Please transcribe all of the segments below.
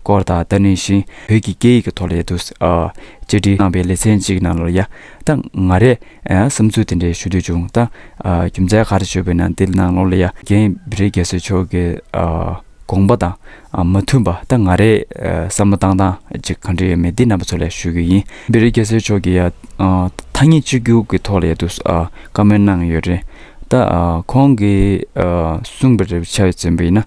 སྐོར་དང་ཏཱ་ནི་ཤིན་བོད་ཀྱི་སྐད་ཡིག་གི་ཐོག་ལ་ཡ་དུ་ས་བཅར་འདྲི་གནང་པའི་ལེ་ཚན་གཅིག་ནང་ལོར་ཡ་ད་ང་རས་བསམ་ཚུལ་དེ་འདྲའི་ཞུ་འདོད་བྱུང་ད་རྒྱུ་མཚན་ག་རེ་ཤོད་པའི་ནང་འདི་ནང་ལོར་ལ་ཡ་རྒན་བི་རི་རྒྱ་སོས་མཆོག་གི་དགོངས་པ་དང་མ་མཐུན་པ་ད་ང་རས་བསམ་བློ་བཏང་སྟངས་གཅིག་གང་འདྲ་ཡོད་མེད་འདི་རྣམ་པ་ཚོ་ལ་ཞུ་གི་ཡིན་བི་རི་རྒྱ་སོས་མཆོག་གི་ཡ་ཐ་སྙད་གཅིག་གྱུར་གི་ཐོག་ལ་ཡ་དུ་ས་བཀའ་མོལ་གནང་ཡོད་རེད་ད་ཁོང་གི་གསུངས་པ་རེ་བའི་ཆ་བཅོམ་པ་ཡིན་ན།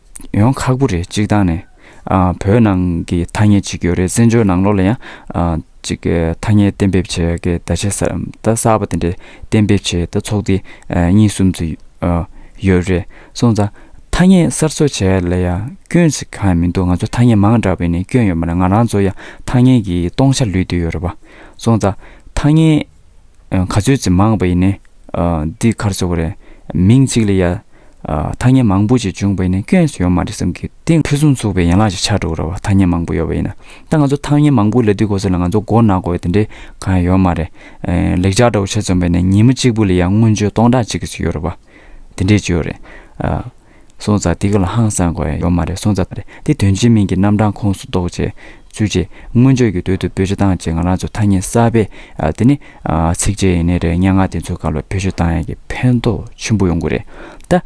ཡོང་ཁག་པོ་རེད་གཅིག་དང་ནི། བོད་ནང་གི་ཐ་སྙད་ཅིག་ཡོད་རེད་བཙན་བྱོལ་ནང་ལོགས་ལ་ཡང། ཅིག་ཐ་སྙད་གཏན་འབེབས་བྱས་ཀྱི་བརྡ་ཆད་གསར་གསར་པ་དེ་འདྲ་གཏན་འབེབས་བྱས་ཏེ་ཚོགས་སྡེ་གཉིས་གསུམ་ཙི་ཡོད་རེད་སོང་ཙང། ཐ་སྙད་གསར་བཟོ་བྱས་ལ་ཡང་སྐྱོན་ཅིག་གང་ཡང་མི་འདུག་ང་ཚོ་ཐ་སྙད་མང་དྲགས་པས་ནི་སྐྱོན་ཡོད་མ་རེད་ང་རང་ཚོ་ཡང་ཐ་སྙད་ཀྱི་སྟོང་ཆ་ལུས་འདོད་ཡོད་རེད་བ་སོང་ཙང། ཐ་སྙད། ག་ཚོད་ཅིག་མང་བ་ཡིན་ནི། འདི་གར་ཚོ་བ་རེད། མིང་གཅིག་ལ་ཡ། ཐ་སྙད་མང་པོ་ཅིག་འབྱུང་བ་ཡིན་ནི་སྐྱོན་སུ་ཡོད་མ་རེད་བསམ་གི་དེ་ཕུན་སུམ་ཚོགས་པའི་ཡན་ལག་ཅིག་ཆགས་འགྲོ་གི་རེད་བ་ཐ་སྙད་མང་པོ་ཡོད་བ་ཡིན་ན། ད་ང་ཚོ་ཐ་སྙད་མང་པོ་ལས་དུས་གོ་ས་ལ་ང་ཚོ་མགོ་ནག་དགོས་དེ་འདྲའི་གང་ཡང་ཡོད་མ་རེད། ལེགས་ཆ་འདྲ་བོ་ཆེ་འཛོམས་པ་ཡིན་ན་ཉིན་མ་གཅིག་པུ་ལ་ཡ་སྔོན་བྱོན་སྟོང་ཕྲག་ཅིག་གི་ཚོད་ཡོད་རེད་བ། དེ་འདྲའི་ཅིག་ཡོད་རེད། སོང་ཙང་དེ་ག་ལ་ཧང་སང་དགོས་ཡོད་མ་རེད་སོང་ཙང་རེད་དེ་དོན་གཅིག་མིང་གི་རྣམ་གྲངས་ཁོངས་སུ་གཏོགས་རྗེས་ཚུད་རྗེས་མངོན་བརྗོད་ཀྱི་དོད་དུ་བེད་སྤྱོད་བཏང་རྗེས་ང་རང་ཚོ་ཐ་སྙད་གསར་པའི་དེ་ནི་ཚིགས་བཅད་ཡིན་ནི་རེད་སྙན་ངག་དེ་ཚོའི་སྐབས་ལ་བེད་སྤྱོད་བཏང་ཡག་གི་ཕན་ཐོགས་ཆེན་པོ་ཡོང་གི་རེད་ད།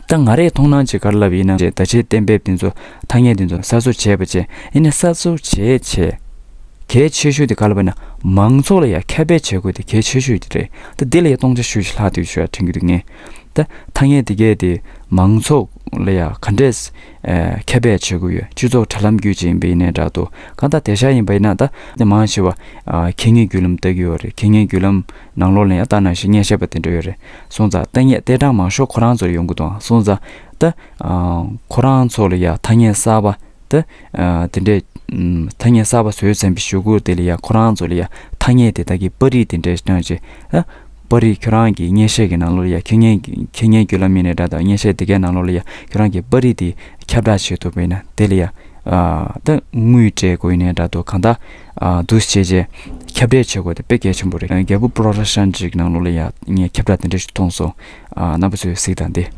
ད་ང་རེས་མཐོང་སྣང་བྱེད་ག་ལ་ལབ་ཡིན་ན་བྱས་ད་བྱས་གཏན་འབེབས་དེ་ཚོ་ཐ་སྙད་དེ་ཚོ་གསར་བཟོ་བྱས་པ་བྱས་ཡིན་ན་གསར་བཟོ་བྱས་བྱས་གལ་ཆེ་ཤོས་དེ་ག་ལ་བས་ན་མང་ཚོགས་ལ་ཡང་ཁྱབ་སྤེལ་བྱེད་དགོས་དེ་གལ་ཆེ་ཤོས་རེད་ད་འདི་ལ་ཡང་སྟོང་ཆ་ཤོས་ཤིག་ལྷག་འདུག་ཞེས་དྲན་གྱི་འདུག་ངས་ད་ཐ་སྙད་དེ་གས་དེ་མང་ཚོགས་ལ་ཡ་ག་འདྲས་ཁྱབ་པས་བྱེད་དགོས་ཡོད་སྤྱི་ཚོགས་དྲ་ལམ་རྒྱུད་ཅིག་ཡིན་པའི་ཡིན་ནའི་དྲ་ཐོ་གང་དག་དེ་ཤ་ཡིན་པ་ཡིན་ན་ད་ནས་མང་ཆེ་བ་གད་སྙིགས་རྒྱུད་ལམ་ལྟ་གི་ཡོད་རེད་གད་སྙིགས་རྒྱུད་ལམ་ནང་ལོག་ལེན་ཡ་ལྟ་ནང་བཞིན་སྙན་ཤལ་པ་དེ་འདྲ་ཡོད་རེད་སོང་ཙང་ཐ་སྙད་ཏེ་གྲངས་མང་ཤོག་ཁོ་རང་ཚོར་ཡོང་གི་འདུག་ཨང་སོང་ཙང་ད་ཁོ་རང་ཚོ་ལ་ཡ་ཐ་སྙད་གསར་པ་ད་དེ་འདྲས་ཐ་སྙད་གསར་པ་བཟོས་ཚན་པའི་ཞུ་སྒོ་དེ་ལ་ཡ་ཁོ་རང་ཚོ་ལ་ཡ་ཐ་སྙད་དེ་དག་གི་པར་རིས་དེ་འདྲས་གནང་རྗེས་ད། པར་རིས་ཁྱོད་རང་གི་སྙན་གཞས་ཀྱི་ནང་ལོགས་ལ་ཡ་ཁྱོད་སྙན་ཁྱོད་སྙན་རྒྱུད་ལ་མིན་ནས་འདྲ་དང་སྙན་གཞས་དེ་གའི་ནང་ལོགས་ལ་ཡ་ཁྱོད་རང་གི་པར་རིས་དེ་ཁྱབ་བསྒྲགས་བྱེད་ཐུབ་པའི་ན་དེ་ལ་ཡ་ད་དངུལ་སྤྲད་དགོས་ནས་འདྲ་འདུག་གང་ལྟར་འདུག་བྱས་རྗེས་ཁྱབ་བསྒྲགས་བྱེད་དགོས་དེ་དཔེ་གལ་ཆེན་པོ་རེད་རྒྱལ་པོ་པྲོ་ར་ཤཱན་ཇིག་ནང་ལོགས་ལ་ཡ་ངས་ཁྱབ་བསྒྲགས་དེ་འདྲ་ཞིག་མཐོང་སོང་རྣམ་པ་ཚོས་གཟིགས་དང་འདི།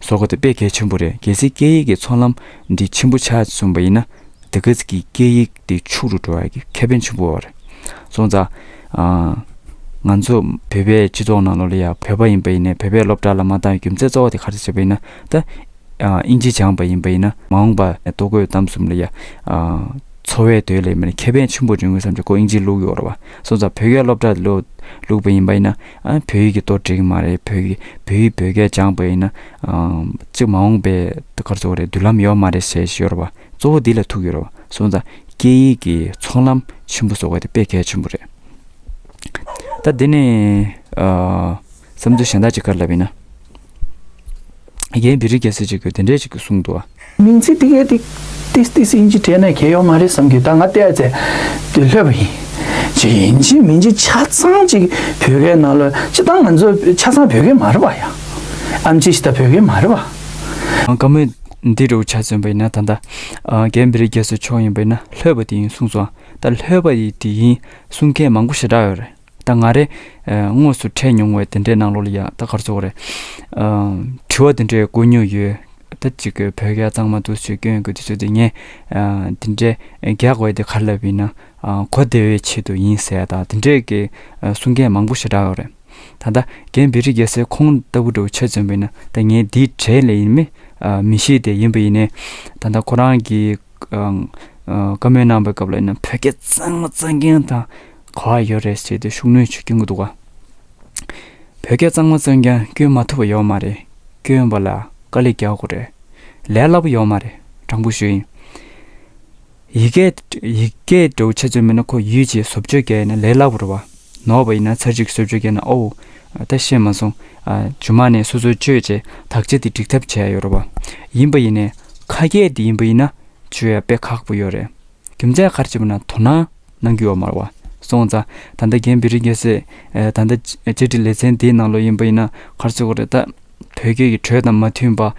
བཟོ་དགོས་དེ་དཔེ་གལ་ཆེན་པོ་རེད་གལ་སྲིད་སྐད་ཡིག་གི་ཚོང་ལམ་འདི་ཆེན་པོ་ཆགས་སོང་བ་ཡིན་ན་དེ་གལ་སྲིད་ཀྱི་སྐད་ཡིག་འདི་ཕྱུག་རུ་འགྲོ་བ་ཡི་ཁེ་ཕན་ཆེན་པོ་རེད་སོང་ཙང། ང་ཚོ་བོད་པའི་སྤྱི་ཚོགས་ནང་ལོག་ལ་ཡང་བོད་པ་ཡིན་པ་ཡིན་ནས་བོད་པའི་སློབ་གྲྭ་ལ་མ་འདང་བའི་རྒྱུ་མཚན་གཙོ་བོ་དེ་ག་རེ་བྱེད་པ་ཡིན་ན་ད། ཨིན་ཇི་སྦྱངས་པ་ཡིན་པ་ཡིན་ན་མ་འོངས་པ་ལྟོ་གོས་གཏམ་གསུམ་ལ་ཡང། འཚོ་བའི་དོད་ལས་མེད་ན་ཁེ་ཕན་ཆེན་པོ་འབྱུང་ངེས་བསམ་ཅི་ཀོ་ཨིན་ཇི་བླུག་ཡོད་རེད་བ་སོང་ཙང་བོད་སྐད་སློབ་གྲྭ་ལ་ལོག་ལུགས་པ་ཡིན་པ་ཡིན་ན། བོད་ཡིག་གི་གཏོར་བྲིས་ཀྱི་མ་རེད་བོད་ཡིག་བོད་ཡིག་བོད་སྐད་སྦྱངས་པ་ཡིན་ན། གཅིག་མ་འོངས་པའི་སྐར་ཚོགས་རེད་མདུན་ལམ་ཡོད་མ་རེད་ཟེར་ཤོར་བ་གཙོ་བོ་འདི་ལ་ཐུག་ཡོད་རེད་བ་སོང་ཙང་སྐད་ཡིག་གི་ཚོང་ལམ་ཆེན་པོ་བཟོ་བ་དེ་དཔེ་གལ་ཆེན་པོ་རེད། ད་འདི་ནས་བསམ་ཚུལ་གཞན་དག་ཅིག་བཀར་ལབ་ཡིན་ན། རྒན་འདི་རིགས་རྒྱལ་སྲིད་ཅིག་གི་དེ་འདྲས་ཅིག་གི་གསུང་དུ་ཨ། མིང་ཚིག་ཏི་ཀའི་ཏིས་ཏིས་ཨིན་ཇི་དྲས་ན་གལ་ཡོད་མ་རེད་བསམ་གི་ད་ང་བལྟས་ཚེ་དེ་ལྷོད་པ་ཡིན། ཇི་ཡིན་ཇི་མིན་གྱི་ཆ་ཚང་ཅིག་བོད་སྐད་ནང་ལོས་ཅི་ད་ང་ཚོ་ཆ་ཚང་བོད་སྐད་མ་རེད་པ་ཡ། ཨམ་ཅི་ཞིག་ད་བོད་སྐད་མ་རེད་པ། བཀའ་མོལ་འདི་རུ་ཆ་མཚོན་པ་ཡིན་ན་ད་ད་རྒན་འདི་རིགས་རྒྱལ་སྲིད་མཆོག་ཡིན་པ་ཡིན་ན་ལྷོད་པ་དེ་ཡིན་གསུངས་སོང་ད་ལྷོད་པ་ཡི་དེ་ཡིན་གསུང་མཁན་མང་པོ་ཞེ་དྲག་ཡོད་རེད། ད་ང་རེ། དངོས་སུ་འཕྲད་མྱོང་བའི་དེ་འདྲའི་གནང་ལོག་ལ་ཡང་ད་གར་ཚོགས་རེད། དྲི་བ་དེ་འདྲའི་བཀོད་མྱོང་ཡོད། ད་ཅིག་བོད་སྐད་གཙང་མ་འདུག་ཟེར་སྐྱོན་གྱི་དུས་ཚོད་དེ་ངས་དེ་འདྲའི་རྒྱག་འོས་དེ་གར་ལབ་ཡིན་ན། གོ་བདེ་བའི་ཆེད་དུ་ཡིན་ཟེར་ད་དེ་འདྲའི་གི་གསུང་མཁན་མང་པོ་ཞེ་དྲག་ཡོད་རེད། ད་ད་གན་བེ་རི་རྒྱལ་སའི་ཁོང་ལྟ་བུ་འདྲ་བོ་ཆེད་བཙོན་པ་ཡིན་ན་ད་ངས་དེའི་གྲས་ལས་ཡིན་མི་མི་ཤེས་ཏེ་ཡིན་པ་ཡིན་ནའི། ད་ད་ཁོ་རང་གིས། བཀའ་མོལ་གནང་བའི་སྐབས་ལ་ཡིན་ན་བོད་སྐད་གཙང་མ་གཙང་མཁན་དང། གོ་བ་ཡོད་རེད་ཟེར་དུས་ཤུགས་གནོན་བྱེད་ཀྱིན་འདུག་བོད་སྐད་གཙང་མ་བཙོན་ཀྱང་སྐྱོན་མ་ཐུབ་པ་ཡོད་མ་རེད་སྐྱོན་པ་ལ་དཀའ་ལས་རྒྱག་དགོས་རེད་ལས་སླ་པོ་ཡོད་མ་རེད་དྲང་པོ་ཞུ་ཡིན་ཡིག་སྐད་སྒྲོག་བྱེད་བཙོན་མི་ན་ཁོ་ཡུལ་གྱི་བཟོ་བཅོས་རྒྱག་ཡིན་ན་ལས་སླ་པོ་རེད་བ་ནོར་བ་ཡིན་ན་ཚར་གཅིག་གིས་བཟོ་བཅོས་རྒྱག་ན་ཨོའོ་ད་ཤེས་མ་སོང་ཇོ་མ་ནས་སོ་སོའི་བཅོས་བྱས་དག་བྱས་དེ་འགྲིག་ཐབས་བྱས་ཡོད་རེད་བ་ཡིན་པ་ཡིན་ནས་ཁ་སྐད་དེ་ཡིན་པ་ཡིན་ན་བཅོས་ཡག་པས་ཁག་པོ་ཡོད་རེད་རྒྱུ་མཚན་གར་བྱེད་པ་ན་དོ་སྣང། ནང་རྒྱུ་བ་མར་བ། སོང་ཙང། ད་ལྟ་རྒན་བེ་རི་རྒྱལ་སྲས། ད་ལྟ། བཅར་འདྲི་ལེ་ཚན་དེའི་ནང་ལོ་ཡིན་པ་ཡིན་ན་གར་ཚུད་གོ་རེ་ད། བོད་སྐད་ཀྱི་འགྲོས་དང་མ་མཐུན་པ།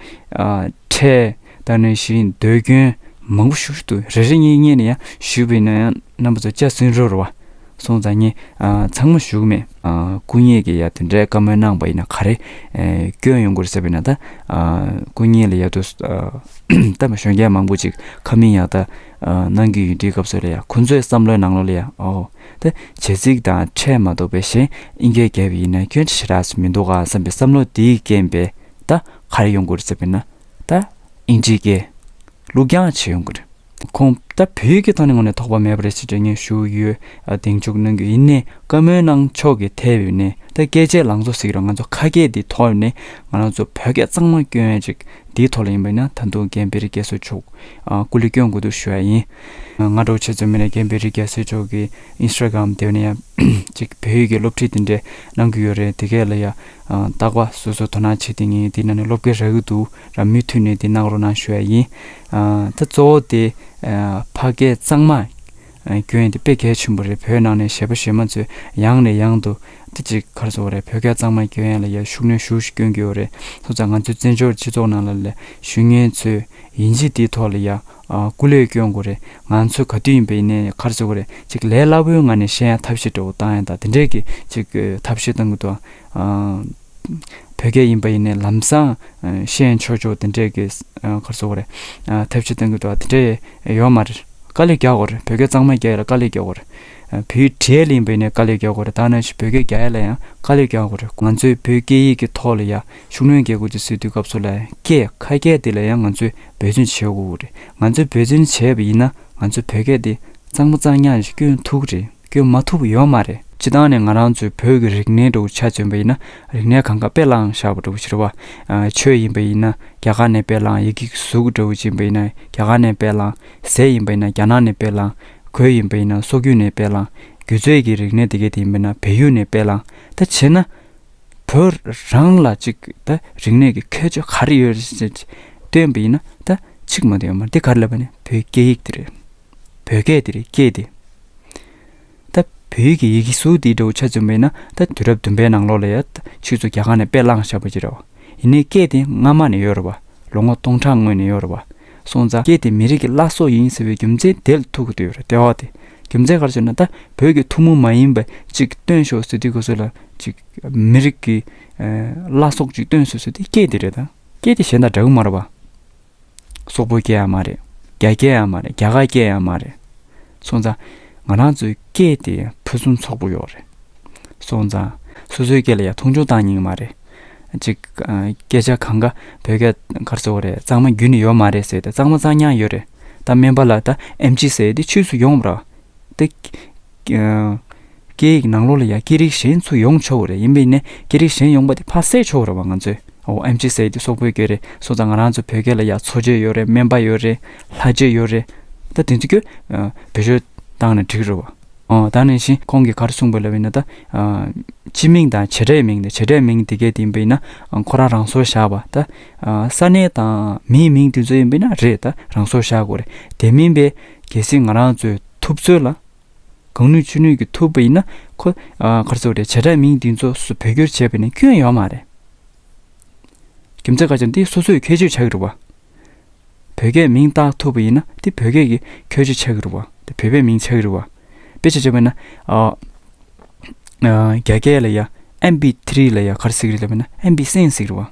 ཕྲད། ད་ནས་བཞིན་ཟློས་སྐྱོན། མང་པོ་ཞུ་ཏུ་རེ་རེ་གཉིས་གཉིས་ནས་ཡང་ཞུས་པ་ཡིན་ན་ཡང་རྣམ་པ་ཚོ་སྐྱ་སུན་རོར་བ། སོང་ཙང་ངས། ཚང་མ་བཞུགས་མེད། སྐུ་ཉིད་ཀྱི་ཡ་དེ་འདྲའི་བཀའ་མོལ་གནང་བ་ཡིན་ན་ག་རེ། སྐྱོན་ཡོང་གོ་རེ་ཟེར་བ་ཡིན་ན་ད། སྐུ་ཉིད་ལ་ཡ་ཏུ། ད་མ་ཞོན་མཁན་མང་པོ་ཅིག་ཁ་མིང་ཡག་ད། ནང་གི་ཡུལ་འདྲིའི་སྐབས་སུ་ལ་ཡ་ཁོ་ཚོའི་བསམ་བློའི་ནང་ལོ་ལ་ཡ་ཨོའོ་དེ་བྱེད་རྩིས་དང་ཕྲད་མ་འདུག་པས་གཞན་ཨིན་སྐད་རྒྱབ་ཡིན་ན་ཁྱོད་ཅི་བྱེད་རགས་སུ་མི་འདུག་ག་བསམ་པའི་བསམ་བློ་དེའི་རྐྱེན་པས་ད་གར་ཡོང་དགོས་རེད་ཟེར་བས་ན་ད་ཨིན་སྐད་རྒྱལུགས་རྒྱང་བྱེད་ཡོང་གི་རེད། ཁོང་ད་བོད་ཡིག་གི་ཐོག་ནས་ངོ་ནས་དོགས་པ་མེད་པ་རེད་ཅེས་འགྲེལ་བརྙན་ཞུ་ཡོད་གདེང་འཇོག་གནང་རྒྱུ་ཡིན་ནས་བཀའ་མོལ་གནང་ཕྱོགས་ཀྱི་ཐད་བོད་ནས་ད་སྐད་ཆའི་ལང་ཚོ་ཟིག་རེད་ང་ཚོ་ཁ་སྐད་འདིའི་ཐོག་ནས་ང་རང་ཚོ་བོད་སྐད་གཙང་མ་སྐྱོན་ཡོད་ཅིག་འདིའི་ཐོག་ལ་ཡིན་པས་ན་ད་དུང་རྒན་པེ་རི་སྐད་གསོལ་ཕྱོགས་སྐུ་ལུས་སྐྱོན་དགོས་འདུག་ཞུ་ཡ་ཡིན། སྔ་དྲོ་ཆེ་བཙུན་མི་ལ་རྒན་པའི་རིགས་རྒྱ་སེ་མཆོག་གི Instagram དེ་བས་ན་ཡང་ཅིག་བོད་ཡིག་གི་སློབ་ཁྲིད་འདི་འདྲས་གནང་གི་ཡོད་རེད་དེ་གས་ལ་ཡ། སྟག་པ་སོ་སོ་དོ་སྣང་བྱེད་དེ་ངས་འདི་ན་ནས་སློབ་དགེ་རག་གི་འདུག་ར་མུས་མཐུད་ནས་འདི་གནང་རོགས་གནང་ཞུ་ཡ་ཡིན། ད་གཙོ་བོ་དེ་ཕ་སྐད་གཙང་མ། སྐྱོན་དེ་དཔེ་གལ་ཆེན་པོ་རེད་བོད་ནང་ནས་གཞས་པ་གཞས་མ་ཚོས་ཡང་ནས་ཡང་དུ་དེ་ཅིག་གར་བཟོ་བ་རེད་བོད་སྐད་གཙང་མ་སྐྱོན་ཡན་ལ་ཡར་ཤུགས་སྣོན་ཤུགས་ཤིག་སྐྱོན་དགོས་བ་རེད་སོ་ཙང་ང་ཚོའི་བཙན་བྱོལ་སྤྱི་ཚོགས་ནང་ལ་ལས་ཞུ་མཁན་ཚོས་ཡིན་གཅིག་དེའི་ཐོག་ལ་ཡར་སྐུ་ལས་སྐྱོན་དགོས་རེད་ང་ཚོས་ག་དུས་ཡིན་པ་ཡིན་ནས་གར་བཟོ་བ་རེད་ཅིག་ལས་སླ་བོའི་ངང་ནས་གཞས་ཡང་ཐབས་ཤེས་འདྲ་བོ་བཏང་ཡང་དང་དེ་འདྲས་ཀྱི་ཅིག་ཐབས་ཤེས་བཏང་གི་འདུག་ཨ། བོད་སྐད་ཡིན་པ་ཡིན་ནའི་ལམ་སང་ཤེས་ཡོན་ཆོས་ཕྱོགས་དེ་འདྲས་ཀྱི་ཐབས་ཇི་ལྟ་བུ་དེ་འདྲས་ཡོད་མ་རེད་དཀའ་ལས་རྒྱག་དགོས་རེད་བོད་སྐད་གཙང་མ་རྒྱ་ཡིག་ལ་དཀའ་ལས་རྒྱག་དགོས་རེད་བོད་ཡིག་བྲལ་ཡིན་པ་ཡིན་ནའི་དཀའ་ལས་རྒྱག་དགོས་རེད་དང་ནས་བོད་སྐད་རྒྱ་ཡིག་ལ་ཡང་དཀའ་ལས་རྒྱག་དགོས་རེད་ང་ཚོས་བོད་སྐད་ཡིག་གི་ཐོག་ལ་ཡང་ཤུགས་སྣོན་རྒྱག་དགོས་ཀྱི་སྲིད་དུས་སྐབས་སུ་ལ་སྐད་ཁ་སྐད་དེ་ལ་ཡང་ང་ཚོས་འབད་བརྩོན་བྱེད་དགོས་རེད་ང་ཚོས་འབད་བརྩོན་བྱས་པ་ཡིན་ན་ང་ཚོའི་བོད་སྐད་དེ་གཙང་མ་གཙང་ཉག་གི་སྐྱོན་ཐུག་རེད། སྐྱོན་མ་ཐུབ་ཡོད་མ་རེད། སྤྱི་བཏང་ནས་ང་རང་ཚོའི་བོད་ཀྱི་རིག་གནས་འགྲོ་འཆག་བྱོན་པ་ཡིན་ན་རིག་གནས་གང་ག་དཔེ་བླངས་བཞག་པ་འགྲོ་འཆི་བ་ཆོས་ཡིན་པ་ཡིན་ན་རྒྱ་གར་ནས་དཔེ་བླངས་ཡི་གིག་གཟུགས་འགྲོ་འཆི་བ་ཡིན་ན་རྒྱ་གར་ནས་དཔེ་བླངས་ཟས་ཡིན་པ་ཡིན་ན་རྒྱ་ནག་ནས་དཔེ་བླངས་གོས་ཡིན་པ་ཡིན་ན་སོག་རྒྱུད་ནས་དཔེ་བླངས་རྒྱུ་རྫས་ཀྱི་རིག་གནས་དེ་ག་དེ་ཡིན་པ་ཡིན་ན་བལ་ཡུལ་ནས་དཔེ་བླངས་ད་བྱས་ན་བོད་རང་ལ་ཅིག་ད་རིག་གནས་ཀྱི་ཁྱད་ཆོས་ག་རེ་ཡོད་རེད་ཅེས་སྟོན་པ་ཡིན་ན་ད་ཆིག་མ་དུ་ཡོད་མ་རེད་འདི་ག་རེ་ལབ་པ་ནི་བོད་སྐད་ཡིག་དེ་རེད། བོད་སྐད་འདིར་སྐྱེས་ཏེ། ད་བོད་ཡིག་གི་ཡི་གེ་གཟུགས་འདི་འདྲ་བོ་ཆ་བཙུམ་པས་ན་ད་དུས་རབས་བདུན་པའི་ནང་ལོགས་ལ་ཡ་ད་ཕྱིས་སུ་རྒྱ་གར་ནས་དཔེ་བླངས་བཞག་པ་ཅི་རེད་བ། ཡིན་ནའི་སྐད་དེ་སྔ་མ་ནས་ཡོད་རེད་བ། ལོ་ངོ་སྟོང་ཕྲག་སྔོན་ནས་ཡོད་རེད་བ། སོང་ཙང་སྐད་དེ་མི་རིགས་ཀྱི་བླ་སྲོག་ཡིན་ཟེར་བའི་རྒྱུ་མཚན་དེལ་ཐུག་གི་འདུག་ཡོད་རེད་དེ་འོག་དེ་རྒྱུ་མཚན་གར་བྱོས་ན་ད་བོད་ཀྱི་ཐུགས་མུ་མ་ཡིན་པ་ཅིག་སྟོན་ཤོག་ཟེར་དུས་གོ་ཟོས་ལ་ཅིག་མི་རིགས་ཀྱི་བླ་སྲོག་ཅིག་སྟོན་ཟོས་ཟོས་དེ་སྐད་འདི་རེད་ད། སྐད་དེ་གཞན་དང་འདྲ་གི་མ་རེད་བ། སོག་པོ་སྐད་ཡང་མ་རེད་རྒྱ་སྐད་ཡང་མ་རེད་རྒྱ་གར་སྐད་ཡང་མ་རེད་སོང་ཙང་ང་རང་ཚོའི་སྐད་དེ་ཕུན་སུམ་ཚོགས་པོ་ཡོད་རེད་སོང་ཙང་སོ་སོའི་སྐད་ལ་ཡ་མཐོང་ཆུང་བཏང་སྙིང་མ་རེད་ཅིག་སྐད་ཆ་གང་ག་བོད་སྐད་གར་གཙོ་བོ་རེད་གཙང་མ་རྒྱུན་ནས་ཡོད་མ་རེད་ཟེར་ཏེ་གཙང་མ་གཙང་ཉག་ཡོད་རེད་ད་སྨན་པ་ལ་ད་ཨེམ་ཆི་ཟེར་ཏེ་ཆུས་སུ་ཡོང་རོགས་ཏེ། སྐད་ཡིག་ནང་ལོགས་ལ་ཡང་སྐད་རིགས་གཞན་ཚུད་ཡོང་ཆོག་རེད་ཡིན་པས་ནས་སྐད་རིགས་གཞན་ཡོང་པ་དེ་ཕ་བསད་ཆོག་རེད་བ་ང་ཚོས་འོ་ཨེམ་ཆི་སེ་དེ་སོག་པོའི་སྐད་རེད་སོ་ཙང་ང་རང་ཚོ་བོད་སྐད་ལ་ཡང་མཚོ་སྐད་ཡོད་རེད་སྨན་པ་ཡོད་རེད་ལྷ་རྗེ་ཡོད་རེད་ད་དེ་ཚོ་ཀྱོ་བེད་སྤྱོད་བཏང་ན་འགྲིག་རེད་བ་འོ་ད་ནང་བཞིན་ཁོང་གིས་གར་གསུངས་པ་ལ་བས་ན་ད་སྤྱི་མིང་དང་བྱེད་སྒྲའི་མིང་དང་བྱེད་སྒྲའི་མིང་དེ་སྐད་དེ་ཡིན་པ་ཡིན་ན་ཁོ་རང་རང་སོར་བཞག་བ་ད་ས་གནས་དང་མིའི་མིང་དེ་ཚོ་ཡིན་པས་ན་རེད་ད་རང་སོར་བཞག་དགོས་རེད་དེ་མིན་པས་གལ་སྲིད་ང་རང་ཚོས་ཐུབ་ཚོད་ལ། གང་ནུས་ཅི་ནུས་ཀྱིས་ཐུབ་པ་ཡིན་ན་ཁོ། གར་ཚོགས་དེ་བྱེ་བྲག་མིང་འདི་ཚོ་སུ་བོད་སྐྱོར་བྱས་པ་ནི་སྐྱོན་ཡོད་མ་རེད། རྒྱུ་མཚན་ཁ་ཅིག་འདི་སོ་སོས་ཁྱད་ཆོས་ཆགས་ཀྱི་རེད་བ། བོད་སྐད་མིང་བཏགས་ཐུབ་པ་ཡིན་ན་འདི་བོད་སྐད་ཀྱི་ཁྱོད་ཆོས་ཆགས་ཀྱི་རེད་བ། འདི་བོད་པའི་མིང་ཆགས་ཀྱི་རེད་བ། དཔེ་ཆ་བྱས་པ་ཡིན་ན། རྒྱ་སྐད་ལ་ཡང་ཨེམ་བི་ཐི་རི་ལ་ཡང་གར་ཟིག་རེད་ལབ་པ་ཡིན་ན་ཨེམ་བི་སེན་ཟིག་རེད་བ།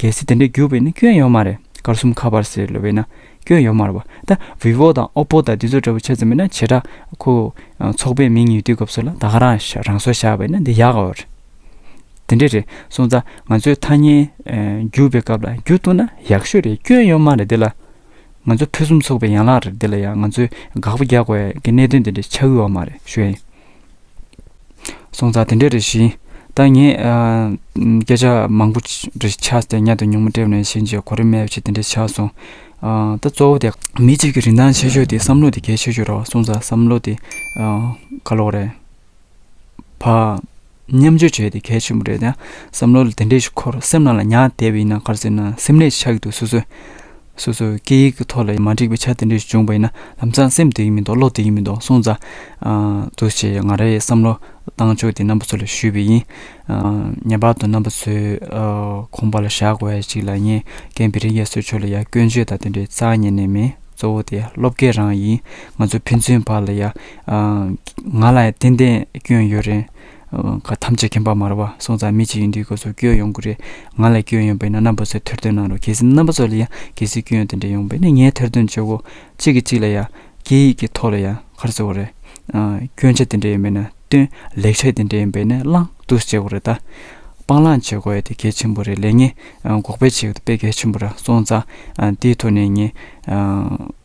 གལ་སྲིད་དེ་འདྲའི་རྒྱུ་བས་ན་སྐྱོན་ཡོད་མ་རེད་དཀར་གསུམ་ཁ་པར་ཟེར་ལོས་བས་ན་སྐྱོན་ཡོད་མ་རེད་བ་ད vivo དང oppo དང་འདི་ཚོ་འདྲ་བོ་ཆེ་ཙམ་མིན་ན་བྱེ་བྲག་ཁོ་ཚོགས་པའི་མིང་ཡིག་དུས་སྐབས་སོགས་ལ་ད་ག་རང་རང་སོ་བཞག་བས་ན་འདི་ཡག་གོ་རེད་དེ་འདྲས་རེད་སོང་ཙང་ང་ཚོས་ཐ་སྙད་རྒྱུ་བའི་སྐབས་ལ་རྒྱུ་བཏོན་ན་ཡག་ཤོས་རེད་སྐྱོན་ཡོད་མ་རེད་འདི་ལ་ང་ཚོ་ཕུན་སུམ་ཚོགས་པའི་ཡན་ལག་རེད་འདི་ལ་ཡང་ང་ཚོས་དགག་པ་རྒྱག་དགོས་ཀྱི་གནད་དོན་འདི་འདྲས་ཆགས་ཡོད་མ་རེད་ཞུ་ཡིན། སོང་ཙང་དེ་འདྲས་རེད་བཞིན། ད་ངས་སྐད་ཆ་མང་པོ་རེ་ཆགས་ཏེ་མཉམ་དུ་ཉུང་མ་སྤྲད་ནས་ཕྱིན་རྗེས་གོ་རིམ་མེད་པ་ཞིག་དེ་འདྲས་ཆགས་སོང། ད་གཙོ་བོ་དེ། མི་གཅིག་གི་རིན་ཐང་ཆེ་ཤོས་དེ་བསམ་བློ་དེ་གལ་ཆེ་ཤོས་རེད་བ་སོང་ཙང་བསམ་བློ་དེ་ག་ལོག་རེད། བ། མཉམ་སྤྱོད་བྱས་དེ་གལ་ཆེན་པོ་རེད་ད་བསམ་བློ་དེ་འདྲས་ཤིག་ཁོ་རང་སེམས་ནང་ལ་ཉར་བསྡད་པ་ཡིན་ན་ག་རེ་ཟེར་ན་སེམས་ནད་ཆགས་ཀྱི་འདུག་སོ་སོས། སོ་སོའི་སྐད་ཡིག་གི་ཐོག་ལ་མ་འགྲིག་པའི་ཆ་དེ་འདྲ་ཞིག་བྱུང་བ་ཡིན་ན་ལམ་སང་སེམས་བདེ་གི་མི་འདུག་བློ་བདེ་གི་མི་འདུག་སོང་ཙང་འདུག་ཅེས་ང་རའི་བསམ་བློ་བཏང་ཆོག་དེ་རྣམ་པ་ཚོ་ལ་ཞུས་པ་ཡིན། ངེས་པར་དུ་རྣམ་པ་ཚོས་ཁོམ་པ་ལ་བཞག་དགོས་བ་ཞིག་ལ་ངས་ཀན་བྷི་རི་རྒྱ་སོའི་ཕྱོགས་ལ་ཡང་སྐྱོན་བརྗོད་དང་དེ་འདྲའི་རྩ་ཉེ་ནས་མེད་གཙོ་བོ་དེ་སློབ་དགེ་རང་ཡིན་ང་ཚོ་ཕན་ཚུན་བར་ལ་ཡང་ང་ལ་ཡང་ཏན་ཏན་སྐྱོན་ཡོད་རེད། ག་ཐམས་ཅད་ཁྱིམ་པ་མར་བ་སོང་ཙང་མི་གཅིག་ཡིན་དུས་ག་ཚོད་སྐྱོན་ཡོང་གི་རེད་ང་ལ་སྐྱོན་ཡོང་པས་ན་རྣམ་པ་ཚོས་ཐེར་འདོན་གནང་རོགས་གལ་སྲིད་རྣམ་པ་ཚོ་ལ་ཡང་གལ་སྲིད་སྐྱོན་དེ་འདྲ་ཡོང་བས་ན་ངས་ཐེར་འདོན་བྱེད་དགོས་གཅིག་གིས་གཅིག་ལ་ཡང་སྐད་ཡིག་གི་ཐོག་ལ་ཡང་གར་བཟོ་བ་རེད་སྐྱོན་ཆ་དེ་འདྲ་ཡིན་པས་ན་སྟོན་ལེགས་ཆ་དེ་འདྲ་ཡིན་པས་ན་བླང་དུ་བྱེད་དགོས་རེད་ད་སྤང་བླང་བྱེད་དགོས་ཡ་དེ་གལ་ཆེན་པོ་རེད་ལས་ངན་འགོག་པའི་བྱེད་དཔེ་གལ་ཆེན་པོ་ར་སོང་ཙང་དེའི་ཐོག་ནས་ངས